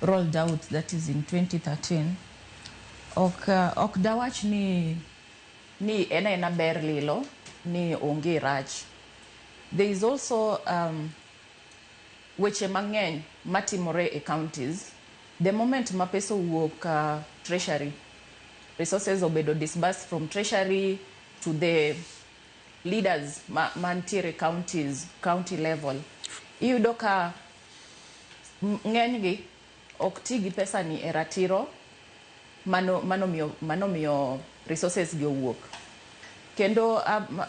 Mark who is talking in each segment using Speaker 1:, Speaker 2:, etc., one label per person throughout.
Speaker 1: rolled out that is in 2013 ok uh, ok dawach ni ni en ena ber lilo ni onge rach there is also um, weche mang'eny matimore e counties the moment ma pesa owuok uh, treasury resources obedo disbursed from treasury to the leaders ma- mantiere counties county level iyudo ka ng'enygi ok ti gi pesani e ratiro manomiyo resources gi owuok. Kendo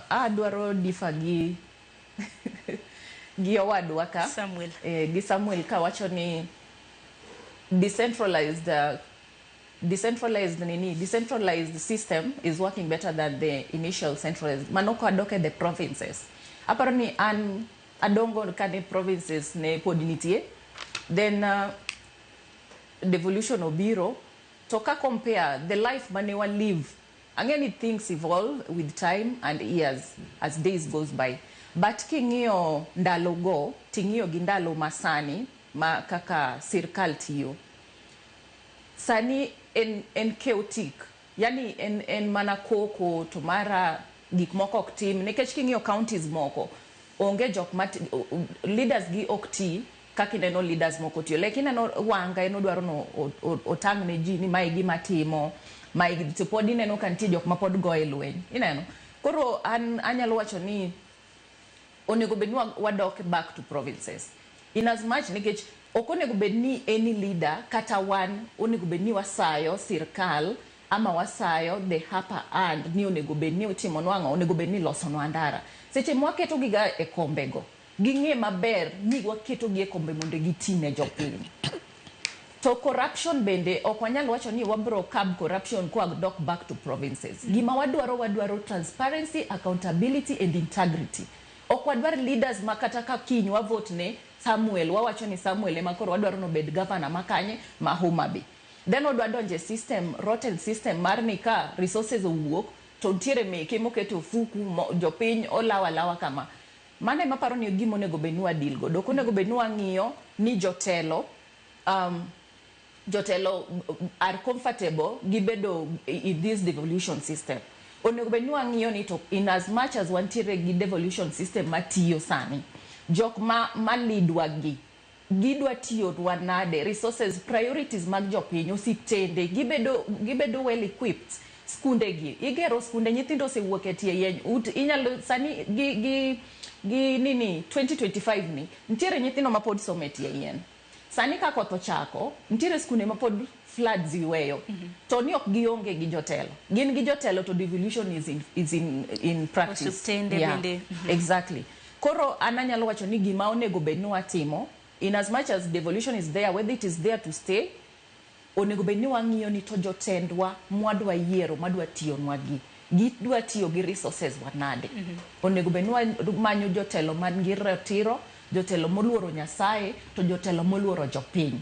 Speaker 1: adwaro differ gi gi owadwa ka Samuel. Eh, gi Samuel ka wacho ni decentralized uh, decentralized nini decentralized system is working better than the initial centralized mano kwa doke the provinces aparo ni an Adongo kane provinces ne pod nitie then uh, devolution obiro to ka compare the life mane wa live ang'e ni things evolve with time and years as days goes by but king'iyo ndalo go ting'iyo gi ndalo masani ma kaka sirkal tiyo sani en, en chaotic Yaani en en mana koko to mara gik moko ok tim nikech king'iyo counties moko onge jok ma leaders gi ok ti kaka ineno leaders moko tiyo like ineno Wanga en odwaro ni otang' ne ji ni ma e gima atimo ma e to pod ineno ka nitie jok ma pod goye lweny ineno koro an anyalo wacho ni onego bed ni wa- wadok back to provinces in as much nikech ok onego bed ni any leader kata wan onego bed ni wasayo sirkal ama wasayo the hapa and ni onego bed ni otimo nwang'o onego bed ni losonwa ndara seche mwaketogiga e kombego ging'e maber ni waketogi e kombe mondo gitine jopiny To corruption bende ok wanyal wacho ni wabro curb corruption kwa dok back to provinces. Gima wadwaro wadwaro transparency, accountability and integrity. Ok wadwar leaders ma kata ka kiny wa vote ne Samuel wawacho ni Samuel ema koro wadwaro ni obed governor ma kanye? Ma Homa Bay. Then odwa donjo e system, rotten system mar ni ka resources owuok to nitiere meke moket e ofuku, jopiny olawo alawa kama. Mano ema aparo ni e gima onego bed ni wa deal godo. Ok onego bed ni wang'iyo ni jotelo um, jotelo are comfortable gi bedo in this devolution system. Onego bed ni wang'iyo ni to in as much as wantiere gi devolution system matiyo sani, jok ma, ma lead wa gi gidwa tiyonwa nade, resources, priorities mag jopiny, osiptende gibedo gibedo well equipped, skunde gi igero skunde nyithindo osewuok e tie yeny ut inyalo sani gi gi gi nini 2025 ni nitiere nyithindo mapod somo e tie yien. Sani ka koth ochako nitiere skunde mapod floods yweyo to ni ok gionge gi jotelo. Gin gi jotelo to devolution is in is in in practice. Osiptende Yeah, bende. exactly. Koro an anyalo wacho ni gima onego bed ni watimo, in as much as devolution is there, whether it is there to stay, onego bed ni wang'iyo ni to jotendwa mwadwa yiero madwa tiyonwa gi, gidwa tiyo gi resources wa nade. Onego bed ni wamanyo jotelo man gi ratiro, jotelo moluoro Nyasaye, to jotelo moluoro jopiny.